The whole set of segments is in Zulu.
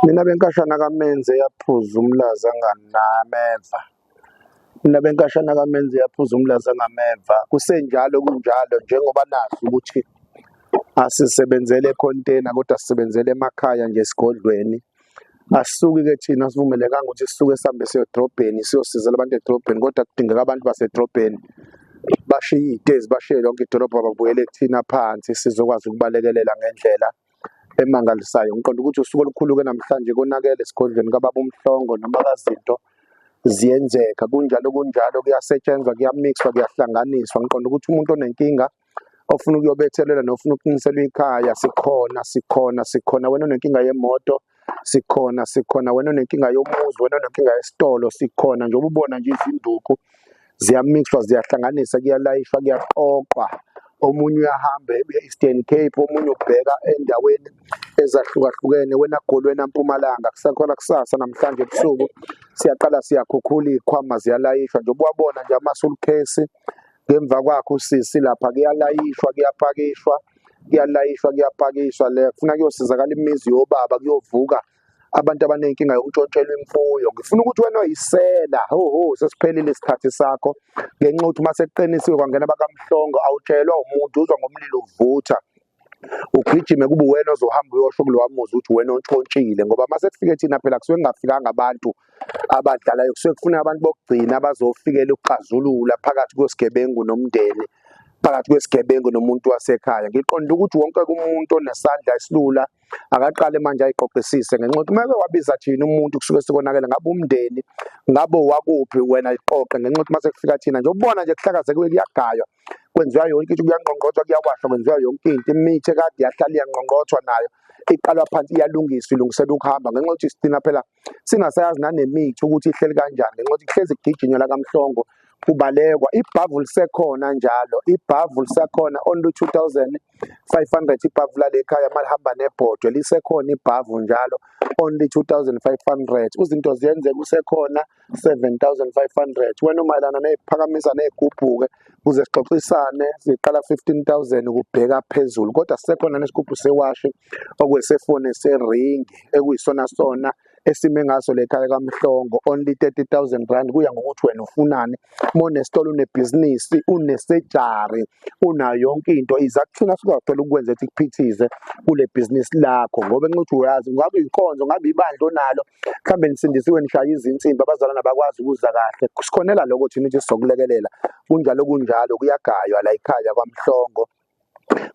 Mina benkashana kamenze yaphuza umlaza nganameva. Mina benkashana kamenze yaphuza umlaza ngameva. Kusenjalo kunjalo njengoba nazi ukuthi asisebenzele econtainer kodwa sisebenzele emakhaya nje esigodlweni. Asuki ke thina sivumelekanga ukuthi sisuke sihambe siyodrobheni siyosizela abantu edrobheni kodwa kudingeka abantu basedrobheni bashiye iy'tezi bashiye lonke idolobha babuyele kuthina phansi sizokwazi ukubalekelela ngendlela emangalisayo ngiqonda ukuthi usuku olukhulu-ke namhlanje konakele esigodlweni kababa umhlongo noma kazinto ziyenzeka kunjalo kunjalo kuyasetshenzwa kuyamixwa kuyahlanganiswa ngiqonda ukuthi umuntu onenkinga ofuna ukuyobethelela nofuna ukuqinisela ikhaya sikhona sikhona sikhona wena onenkinga yemoto sikhona sikhona wena onenkinga yomuzi wena onenkinga yesitolo sikhona njengoba ubona nje izinduku ziyamixwa ziyahlanganisa kuyalayishwa kuyaqoqwa omunye uyahamba ebuya e-Eastern Cape omunye ubheka endaweni ezahlukahlukene wena goli wena mpumalanga kusakhona kusasa namhlanje ebusuku siyaqala siyakhukhula iy'khwama ziyalayishwa njengoba wabona nje amasulukhesi ngemva kwakhe usisi lapha kuyalayishwa kuyapakishwa kuyalayishwa kuyapakishwa le funa kuyosizakala imizi yobaba kuyovuka abantu abanenkinga yokuntshontshelwa imfuyo ngifuna ukuthi wena oyisela ho ho sesiphelile isikhathi sakho ngenxa ukuthi uma sekuqinisiwe kwangena bakamhlongo awutshelwa umuntu uzwa ngomlilo uvutha ugijime kube uwena ozohamba uyosho kulowa muzi ukuthi uwena ontshontshile ngoba uma sekufike thina phela kusuke kungafikanga abantu abadlalayo kusuke kufuna abantu bokugcina abazofikela ukuxazulula phakathi kwesigebengu nomndeni phakathi kwesigebengu nomuntu wasekhaya ngiqonda ukuthi wonke umuntu onesandla esilula akaqale manje ayiqoqisise ngenxa yokuthi uma wabiza thina umuntu kusuke sekonakele ngabe umndeni ngabe wakuphi wena iqoqe ngenxa yokuthi uma sekufika thina nje ubona nje kuhlakazekile kuyagaywa kwenziwa yonke into kuyangqongqothwa kuyawashwa kwenziwa yonke into imithi ekade yahlala iyangqongqothwa nayo iqalwa phansi iyalungiswa ilungiselwa ukuhamba ngenxa yokuthi sithina phela singasayazi nanemithi ukuthi ihleli kanjani ngenxa yokuthi kuhlezi kugijinywa lakamhlongo kubalekwa ibhavu lisekhona njalo ibhavu lisakhona on 2500 ibhavu lale khaya malihamba nebhodwe lisekhona ibhavu njalo only 2500 uzinto ziyenzeka usekhona 7500 wena umayelana neziphakamisa nezigubhuke kuze sixoxisane siqala 15000 ukubheka phezulu kodwa sekhona nesigubhu sewashi okwesefone sering ekuyisona sona esime ngaso lekhaya kamhlongo only 30000 rand kuya ngokuthi wena ufunani uma unesitolo unebhizinisi unesejari unayo yonke into iza kuthina sizakuthola ukwenza ukuthi kuphithize kule bhizinisi lakho ngoba nxa uthi uyazi ngabe inkonzo ngabe ibandla onalo mhlambe nisindisiwe nishaya izinsimbi abazalwana bakwazi ukuza kahle sikhonela lokho thina ukuthi sizokulekelela kunjalo kunjalo kuyagaywa la ekhaya kwamhlongo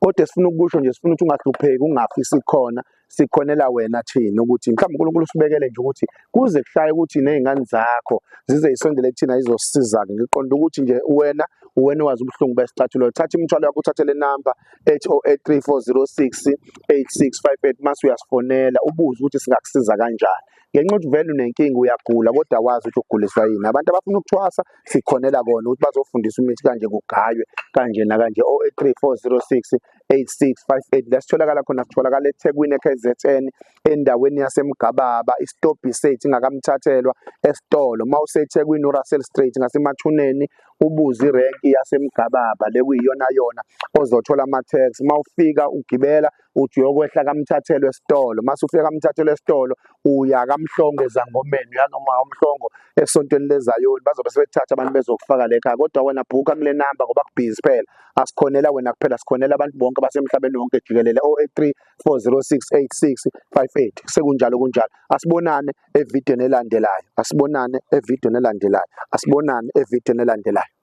kodwa esifuna ukusho nje sifuna ukuthi ungahlupheki ungafi sikhona sikhonela wena thina ukuthi mhlawumbe uNkulunkulu usibekele nje ukuthi kuze kushaye ukuthi nezingane zakho zize isondele kuthina izosiza ke ngiqonda ukuthi nje wena uwena wazi ubuhlungu besicathulo thatha imithwalo yakho uthathe le number 080834068658 mase uyasifonela ubuze ukuthi singakusiza kanjani ngenxa ukuthi vele unenkinga uyagula kodwa wazi ukuthi uguliswa yini abantu abafuna ukuthwasa sikhonela kona ukuthi bazofundisa imithi kanje kugaywe kanje nakanje 083406 8658 la sitholakala khona sitholakala eThekwini eKZN endaweni yaseMgababa isitobhi sethu ingakamthathelwa esitolo mawuseThekwini uRussell Street ngasemathuneni ubuze irenki yaseMgababa lekuyiyona yona ozothola ama tax mawufika ugibela uthi uyokwehla kamthathelwe esitolo mase ufika kamthathelwe esitolo uya kamhlongo ezangomeni uya noma umhlongo esontweni lezayoni bazobe sebethatha abantu bezokufaka le khaya kodwa wena bhuka kule namba ngoba kubhizi phela asikhonela wena kuphela sikhonela abantu bonke basemhlabeni wonke jikelele 083 40686 58 sekunjalo kunjalo asibonane evidweni elandelayo asibonane evidweni elandelayo asibonane evidweni elandelayo